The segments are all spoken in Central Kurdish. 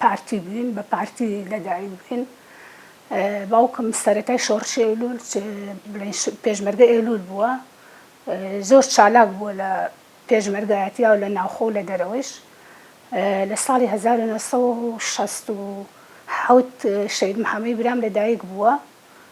پارتی بووین بە پارتی لەدایک بووین باوکم سەرەتای شۆڕشی ئەیلول بڵێن پێشمەرگە ئێلول بووە زۆر چالاک بووە لە پێشمەرگایەتیا و لە ناوخۆ لە دەرەوەش لە ساڵی 1960 شەید محەمەی برام لەدایک بووە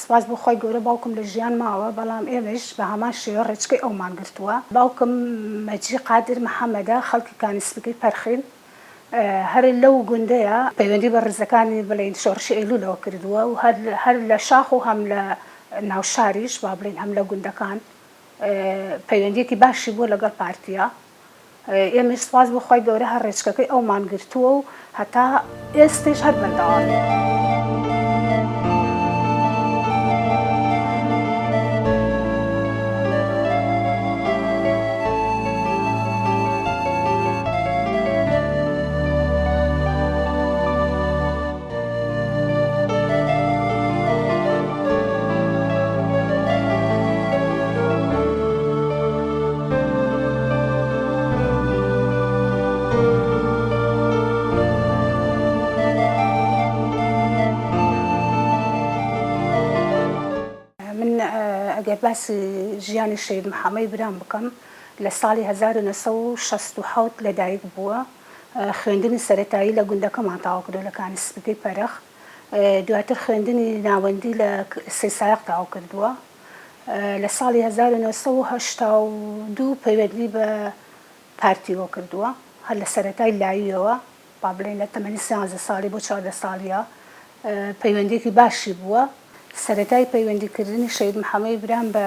سوپاس بۆ خوای گەورە باوکم لە ژیان ماوە بەڵام ئێمەیش بە هەمان شێوە ڕێچکەی ئەومان گرتووە باوکم مەجی قادر محەمەدە خەڵکی کانی سپیکەی پەرخین هەر لەو گوندەیە پەیوەندی بە ڕیزەکانی بڵێین شۆڕشی ئەیلولەوە کردووە و هەر لە شاخ و هەم لە ناو شاریش با بڵێین هەم لە گوندەکان پەیوەندیەکی باشی بووە لەگەڵ پارتیا ئێمەیش سوپاس بۆ خوای گەورە هەر ڕێچکەکەی ئەومان گرتووە و هەتا ئێستەیش هەر بەردەوامین. ئەگەر باسی ژیانی شەهید محەمەی برام بکەم لە ساڵی هەزار و نۆ سەد و شەست و حەوت لەدایک بووە خوێندنی سەرەتایی لە گوندەکەمان تەواو کردووە لە کانی سپی پەرخ، دواتر خوێندنی ناوەندی لە سەی سایەق تەواو کردووە، لە ساڵی هەزار و نۆ سەد و هەشتا و دوو پەیوەندی بە پارتیەوە کردووە، هەر لە سەرەتای لاییەوە با بڵێین لە تەمەنی سیانزە ساڵی بۆ چواردە ساڵییە پەیوەندیەکی باشی بووە، سەرەتای پەیوەندی کردنی شەهید محەمەی برام بە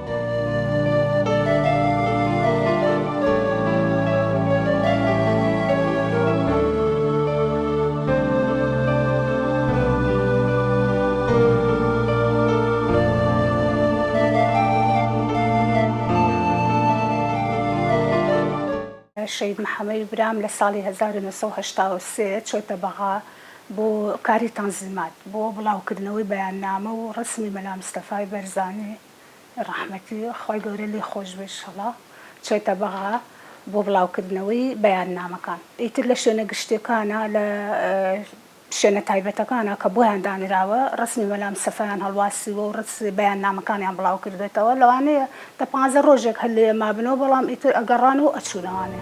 شەهید محەمەی برام لە ساڵی هەزار و نۆ سەد و هەشتا و سێ چۆتە بەغا بۆ کاری تەنزیمات بۆ بڵاوکردنەوەی بەیاننامە و ڕەسمی مەلا مستەفای بەرزانی، ڕەحمەتی خوای گەورە لێی خۆش بێت ئیشەڵا چۆیتە بەغا بۆ بڵاو کردنەوەی بەیاننامەکان ئیتر لە شوێنە گشتیەکانا لە شوێنە تایبەتەکانا کە بۆیان دانراوە ڕەسمی مەلا مستەفایان هەڵواسیوە و ڕەس بەیاننامەکانیان بڵاو کردۆتەوە لەوانەیە دە پانزە ڕۆژێک هەر لێیە مابنەوە بەڵام ئیتر ئەگەڕان و ئەچوونەوانێ.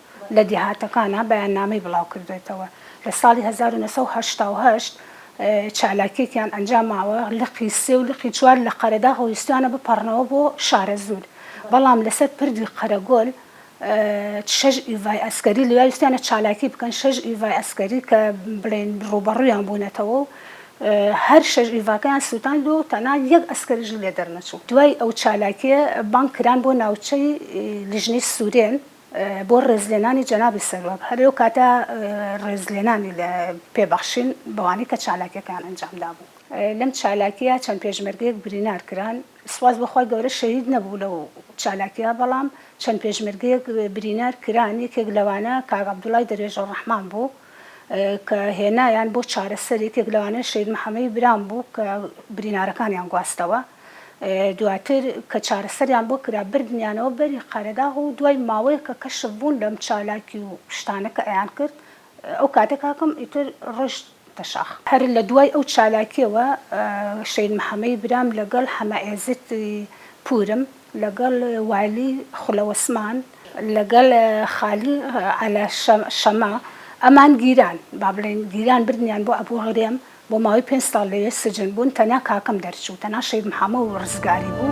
لە دێهاتەکانا بەیاننامەی بڵاوکردۆتەوە، لە ساڵی هەزار و نۆ سەد و هەشتا و هەشت چالاکیەکیان ئەنجاماوە لقی سێ و لقی چوار لە قەرەداغ ویستویانە بپەڕنەوە بۆ شارەزوور بەڵام لەسەر پردی قەرەگۆل شەش ئیڤای ئەسکەری لێیا ویستویانە چالاکی بکەن شەش ئیڤای ئەسکەری کە بڵێن ڕووبەڕوویان بوونەتەوە و هەر شەش ئیڤاکەیان سوتاند و تەنها یەک ئەسکەریش لێ دەرنەچوو دوای ئەو چالاکیە بانگ کران بۆ ناوچەی لیژنەی سورێن بۆ ڕێزلێنانی جەنابی سەرۆک، هەر لەو کاتە ڕێزلێنانی پێ بەخشین بەوانەی کە چالاکیەکەیان ئەنجام دابوو. لەم چالاکیە چەند پێشمەرگەیەک برینار کران، سوپاس بۆ خوای گەورە شەهید نەبوو لەو چالاکیە، بەڵام چەند پێشمەرگەیەک برینار کران، یەکێک لەوانە کاک عەبدوڵای دەروێش ڕەحمان بوو، کە هێنایان بۆ چارەسەری، یەکێک لەوانە شەید محەمەی برام بوو کە برینارەکانیان گواستەوە، دواتر کە چارەسەریان بۆ کرا بردنیانەوە بەری قەرەداغ و دوای ماوەیەک کە کەشف بوون لەم چالاکی و شتانە کە ئەیان کرد ئەو کاتە کاکەم ئیتر ڕۆیشتە شاخ. هەر لە دوای ئەو چالاکیەوە شەید محەمەی برام لەگەڵ حەمە ئێزت پوورم، لەگەڵ وایلی خولەوسمان، لەگەڵ خالی عەلا شەمە، ئەمان گیران، با بڵێین گیران بردنیان بۆ ئەبوو غرێم، بۆ ماوەی پێنج ساڵ لەوێ سجن بوون، تەنیا کاکەم دەرچوو، تەنیا شەهید محەمەو ڕزگاری بوو.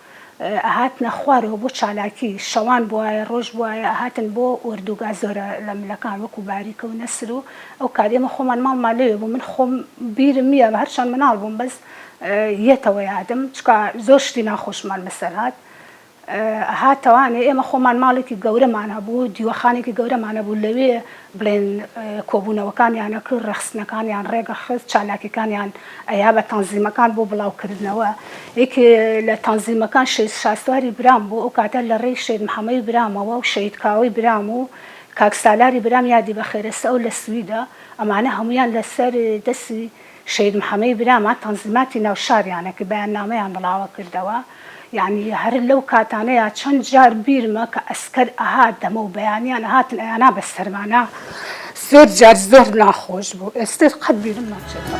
ئەهاتنە خوارەوە بۆ چالاکی، شەوان بوایە ڕۆژ بوایە ئەهاتن بۆ ئۆردوگا زۆرە لە ملەکان وەکو باریکە و نەسر و ئەو کات ئێمە خۆمان ماڵمان لەوێ بوو من خۆم بیرم نیە هەرچەند مناڵ بووم بەس یەتەوە یادم چکا زۆر شتی ناخۆشمان بەسەر هات ئەهاتەوانێ ئێمە خۆمان ماڵێکی گەورەمان هەبوو دیوەخانێکی گەورەمان هەبوو لەوێ بڵێن کۆبوونەوەکانیان ئەکرد، ڕێکخستنەکانیان ڕێکئەخست، چالاکیەکانیان ئەیا بە تەنزیمەکان بۆ بڵاوکردنەوە، یەک لە تەنزیمەکان شەید شاسواری برام بوو، ئەو کاتە لە ڕێی شەید محەمەی برامەوە و شەید کاوەی برام و کاک سالاری برام یادی بەخێرە سەو لە سویدە، ئەمانە هەموویان لەسەر دەستی شەهید محەمەی برامان تەنزیماتی ناو شاریانە کە بەیاننامەیان بڵاوە کردەوە یانی هەر لەو کاتانەیا چەند جار بیرمە کە ئەسکەر ئەهات دەمە و بەیانیان ئەهاتن ئەیانا بە سەرمانا زۆر جار زۆر ناخۆش بوو ئێستر قەت بیرم ناچێتەوە.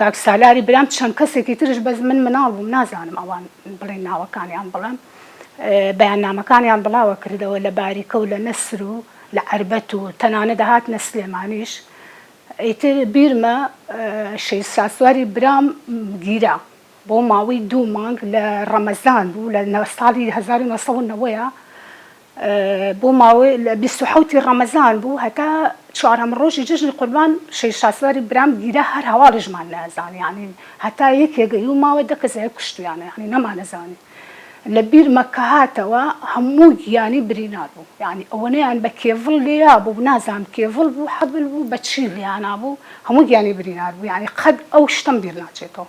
کاک سالاری برام چەند کەسێکی ترش بەس من مناڵ بووم نازانم ئەوان بڵێن ناوەکانیان بڵێم بەیاننامەکانیان بڵاوە کردەوە لە باریکە و لە نەسر و لە عەربەت و تەنانەت هاتنە سلێمانیش ئیتر بیرمە شەید شاسواری برام گیرا بۆ ماوەی دوو مانگ لە ڕەمەزان بوو لە ساڵی 1990 بۆ ماوەی لە بیست و حەوتی ڕەمەزان بوو هەتا چوارەم ڕۆژی جەژنی قوربان شەهید شاسواری برام گیرا هەر هەواڵیشمان نەزانی یانی هەتا یەکێ گەیوو ماوە دە کەس کوشتویانە یانی نەمانەزانی لە بیرمە کە هاتەوە هەموو گیانی برینار بوو یانی ئەوەنەیان بە کێڤڵ لێیا بوو نازانم کێڤڵ بوو حەبل بوو بە چی لێیانابوو هەموو گیانی برینار بوو یانی قەد ئەو شتەم بیر ناچێتەوە.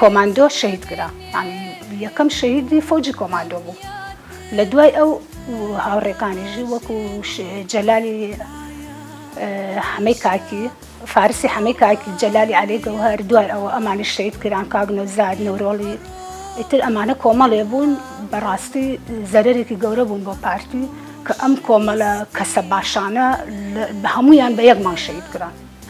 کۆماندۆ شەهید کرا یانی یەکەم شەهیدی فەوجی کۆماندۆ بوو لە دوای ئەو هاوڕێکانیژی وەکو جەلالی حەمەی کاکی فارسی حەمەی کاکی جەلالی علی گەوهر دوای ئەوە ئەمانی شەید کران کاک نەوزاد نەورۆڵی ئیتر ئەمانە کۆمەڵێ بوون بەڕاستی زەرێکی گەورە بوون بۆ پارتی کە ئەم کۆمەلە کەسە باشانە هەمویان بە یەک مانگ شەید کران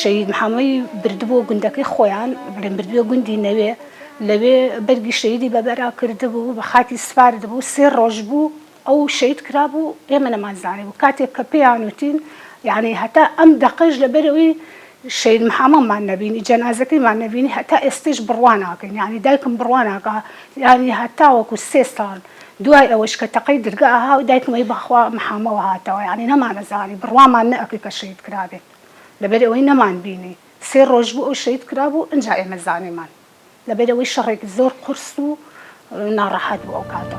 شەهید محەمەی بردبووە گوندەکەی خۆیان، بەڵێن بردبووە گوندی نەوێ، لەوێ بەرگی شەهیدی بە بەرا کردبوو، بە خاکی سپاردبوو، سێ ڕۆژ بوو ئەو شەهید کرابوو، ئێمە نەمانزانیبوو، کاتێک کە پێیان وتین، یانی هەتا ئەم دەقەش لەبەرئەوەی شەهید محەمەمان نەبینی، جەنازەکەیمان نەبینی، هەتا ئێستەیش بڕوا ناکەین، یانی دایکم بڕوا ناکا، یانی هەتاوەکو سێ ساڵ، دوای ئەوەش کە تەقەی درگا ها و دایکم ی بەخوا محامەوە هاتەوە یانی نەمانە زانی بڕوامان نە ئەکرد کە شەهید کرابێت لەبەر ئەوەی نەمان بینی سێ ڕۆژ بوو ئەو شەهید کرابوو ئینجا ئێمە زانیمان لەبەر ئەوەی شەڕێکی زۆر قورس و ناڕەحەت بوو ئەو کاتە.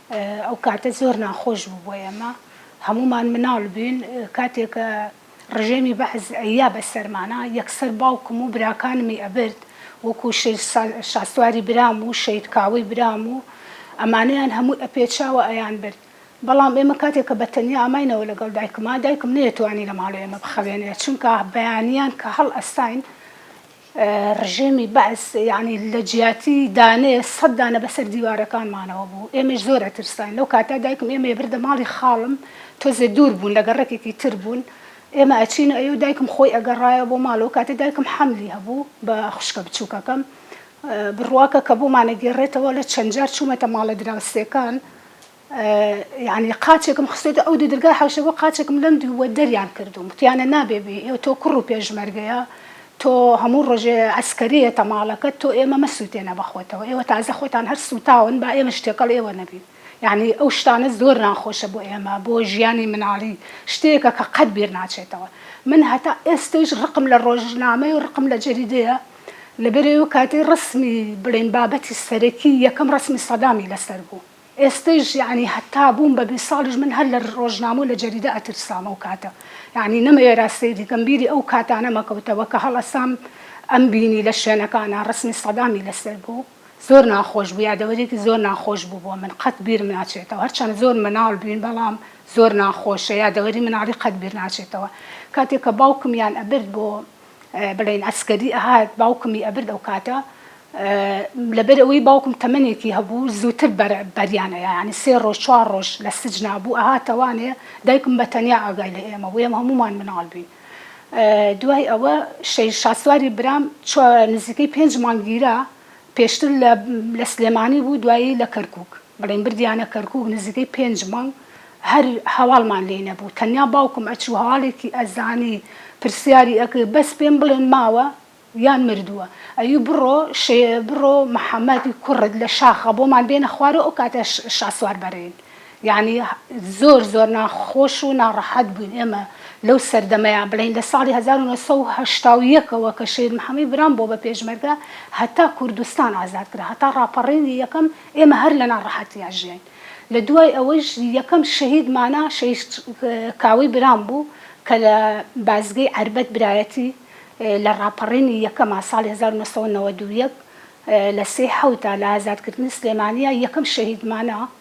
ئەو کاتە زۆر ناخۆش بوو بۆ ئێمە هەموومان مناڵ بووین کاتێک کە ڕژێمی بەعس ئەیا بە سەرمانا یەکسەر باوکم و براکانمی ئەبرد وەکوو شێر شاسواری برام و شەید کاوەی برام و ئەمانەیان هەمووی ئەپێچاوە ئەیان برد بەڵام ئێمە کاتێک کە بە تەنیا ئاماینەوە لەگەڵ دایکما دایکم نەیەتوانی لە ماڵێ ئێمە بخەوێنێ چونکە بەیانیان کە هەڵ ئەستاین ڕژێمی بەعس یەعنی لە جیاتی دانێ سەد دانە بەسەر دیوارەکانمانەوە بوو ئێمەش زۆر ئەترساین لەو کاتە دایکم ئێمەی ئەبردە ماڵی خاڵم تۆزێ دوور بوون لە گەڕەکێکی تر بوون ئێمە ئەچین و ئەیەو دایکم خۆی ئەگەڕایەوە بۆ ماڵەوە کاتێ دایکم حەملی هەبوو بە خوشکە بچووکەکەم بڕواکە کە بۆمان ئەگێڕێتەوە لە چەند جار چوومەتە ماڵە دراوسێکان یانی قاچێکم خستۆتە ئەو دوو درگا حەوشە بۆ قاچێکم لەم دوو وە دەریان کردووم وتیانە نابێ بی ئێ تۆ کوڕ و پێشمەرگەیە تۆ هەموو ڕۆژێ عەسکەریە تەماڵەکەت تۆ ئێمە مەسووتێنە بە خۆتەوە ئێوە تازە خۆتان هەر سووتاون با ئێمەش تێکەڵ ئێوە نەبین یانی ئەو شتانە زۆر ناخۆشە بۆ ئێمە بۆ ژیانی مناڵی شتێکە کە قەت بیر ناچێتەوە من هەتا ئێستەیش ڕقم لە ڕۆژنامەیە و ڕقم لە جەریدەیە لەبەرئەوە کاتەی ڕەسمی بڵێین بابەتی سەرەکی یەکەم ڕەسمی سەدامی لەسەر بوو ئێستەیش یەعنی هەتا بووم بە بیست ساڵیش من هەر لە ڕۆژنامە و لە جەریدە ئەترسام ئەو کاتە یەعنی نەمەوێرا سەیری کەم بیری ئەو کاتانەم ئەکەوتەوە کە هەڵەسام ئەمبینی لە شوێنەکانا ڕەسمی سەدامی لەسەر بوو زۆر ناخۆش بوو یادەوەریەکی زۆر ناخۆش بوو بۆ من قەت بیرم ناچێتەوە هەرچەند زۆر مناڵ بووین بەڵام زۆر ناخۆشە یادەوەری مناڵی قەت بیر ناچێتەوە کاتێ کە باوکمیان ئەبرد بۆ بڵێن عەسکەری ئەهات باوکمی ئەبرد ئەوکاتە لەبەر ئەوەی باوکم تەمەنێکی هەبوو زووتر بەریان ئەیا یانی سێ ڕۆژ چوار ڕۆژ لە سجنا بوو ئەهاتە وانێ دایکم بە تەنیا ئاگای لە ئێمە بوو ئێمە هەموومان مناڵ بووین دوای ئەوە شەهید شاسواری برام چوە نزیکەی پێنج مانگ گیرا پێشتر لە لە سلێمانی بوو دوایی لە کەرکوک بڵێن بردیانە کەرکوک نزیکەی پێنج مانگ هەر هەواڵمان لێ نەبوو تەنیا باوکم ئەچوو هەواڵێکی ئەزانی پرسیاری ئەکرد بەس پێم بڵێن ماوە یان مردووە ئەیوو بڕۆ شێ بڕۆ محمد کوڕت لە شاخە بۆمان بێنە خوارەوە ئەو کاتە شاسوار بەرێن یانی زۆر زۆر ناخۆش و ناڕەحەت بووین ئێمە لەو سەردەمەیا بڵێین لە ساڵی هەزار و نۆ سەد و هەشتا و یەک ەوە کە شەهید محەمەی برام بۆ بە پێشمەرگە هەتا کوردستان ئازاد کرا هەتا ڕاپەڕینی یەکەم ئێمە هەر لە ناڕەحەتیا ژیاین لە دوای ئەوەیش یەکەم شەهید مانا شەهید کاوەی برام بوو کە لە بازگەی عەربەت برایەتی لە ڕاپەڕینی یەکەما ساڵی هەزار و نۆ سەد و نەوەد و یەک لە سێی حەوتا لە ئازاد کردنی سلێمانیا یەکەم شەهید مانا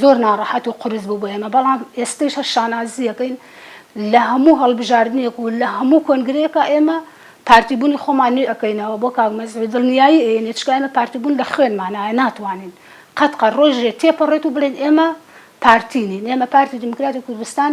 زۆر ناڕەحەت و قورس بوو بۆ ئێمە، بەڵام ئێستەیش هەر شانازی ئەکەین لە هەموو هەڵبژاردنێک و لە هەموو کۆنگرەیەکا ئێمە پارتیبوونی خۆمان نوێ ئەکەینەوە بۆ کاک مەزهەر دڵنیایی ئەیەنێ چکە ئێمە پارتیبوون لە خوێنمانایە ناتوانین قەت قەت ڕۆژێ تێپەڕێت و بڵێین ئێمە پارتی نین ئێمە پارتی دیموکراتی کوردستان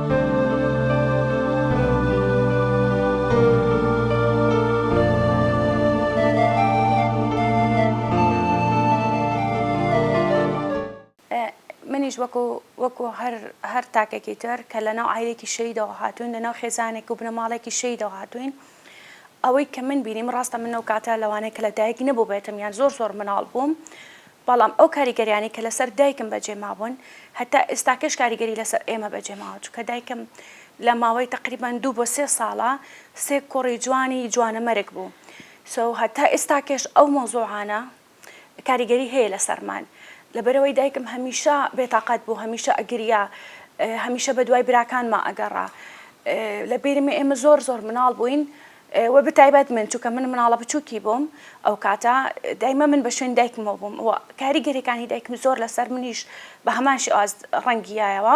منیش وەکو وەکو هەر هەر تاکێکی تر کە لەناو عایلێکی شەیدەوە هاتوین لەناو خێزانێک و بنەماڵەێکی شەیدەوە هاتوین ئەوەی کە من بینیم ڕاستە من ئەو کاتە لەوانەیە کە لە دایک نەبووبێتم یان زۆر زۆر مناڵ بووم بەڵام ئەو کاریگەریانەی کە لەسەر دایکم بەجێ مابوون هەتا ئێستاکەش کاریگەری لەسەر ئێمە بەجێ ماوە چونکە دایکم لە ماوەی تەقریبەن دوو بۆ سێ ساڵە سێ کوڕی جوانی جوانەمەرگ بوو سو هەتا ئێستاکەش ئەو مەوزوعانە کاریگەری هەیە لەسەرمان لەبەرەوەی دایکم هەمیشە بێتاقەت بوو هەمیشە ئەگریا هەمیشە بە دوای براکانما ئەگەڕا لە بیرمە ئێمە زۆر زۆر مناڵ بووین وە بتایبەت من چووکە من مناڵە بچووکی بووم ئەو کاتە دایمە من بە شوێن دایکمەوە بووم و کاری گەرەکانی دایکم زۆر لەسەر منیش بە هەمان شێواز ڕەنگیایەوە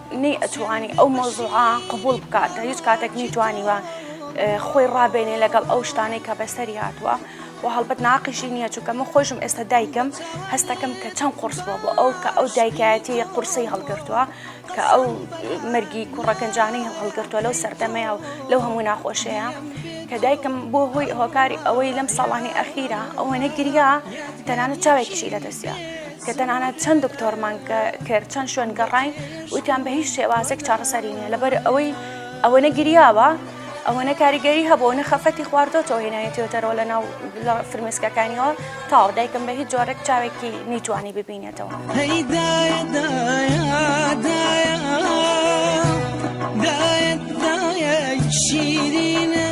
نەی ئەتوانی ئەو مەوزوعە قبول بکات لە هیچ کاتێک نیتوانیوە خۆی ڕابێنێ لەگەڵ ئەو شتانەی کە بەسەری هاتووە و هەڵبەت ناقیشی نییە چونکە من خۆشم ئێستا دایکم هەستەکەم کە چەند قرس بووە بۆ ئەو کە ئەو دایکایەتی قورسی هەڵگرتووە کە ئەو مەرگی کوڕەکەنجانەی هەڵگرتووە لەو سەردەمەیە و لەو هەموو ناخۆشەیە کە دایکم بۆ هۆی هۆکاری ئەوەی لەم ساڵانی ئەخیرا ئەوەنە گریا تەنانە چاوێکیشی لەدەستە کە تەنانەت چەند دکتۆرمان کرد چەند شوێن گەڕین وتیان بە هیچ شێوازێک چاڕسەری نیە لەبەر ئەوەی ئەوەنە گریاوە ئەوەنە کاریگەری هەبوو نە خەفەتی خواردۆتەوە هێنایەتیۆتەرەوە لە ناو لە فرمێسکەکانیەوە تاو دایکم بە هیچ جۆرەك چاوێکی نیتوانی ببینێتەوە شیرینە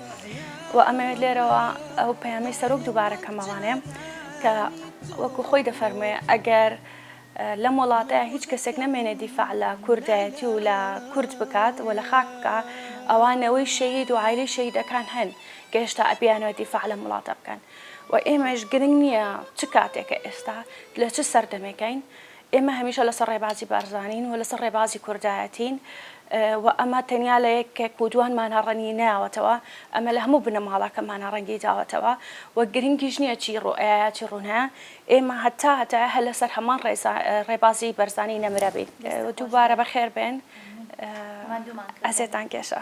و ئەمەوێت لێرەوە ئەو پەیامی سەرۆک دووبارە کەمەوانێ کە وەکو خۆی دەفەرموێ ئەگەر لەم وڵاتەیە هیچ کەسێک نەمێنێ دیفاع لە کوردایەتی و لە کورد بکات و لە خاک بکە ئەوە نەوەی شەید و عیلی شەیدەکان هەن کە هێشتا ئەبیانەوە دیفاع لەم وڵاتە بکەن و ئێمەش گرنگ نییە چ کاتێکە ئێستا لە چ سەردەمێکین ئێمە هەمیشە لەسەر ڕێبازی بارزانین و لەسەر ڕێبازی کوردایەتین و ئەمە تەنیا لە یەکێک و دوانمانە ڕەنگی نەیاوەتەوە، ئەمە لە هەموو بنەماڵەکەمانە ڕەنگی داوەتەوە و گرنگیش نییە چی ڕوئەیە چی ڕوونایە، ئێمە هەتا هەتایە هەر لەسەر هەمان ڕێبازی بەرزانی نەمرەبین. دووبارە بەخێربێن. ئەزێتان کێشا.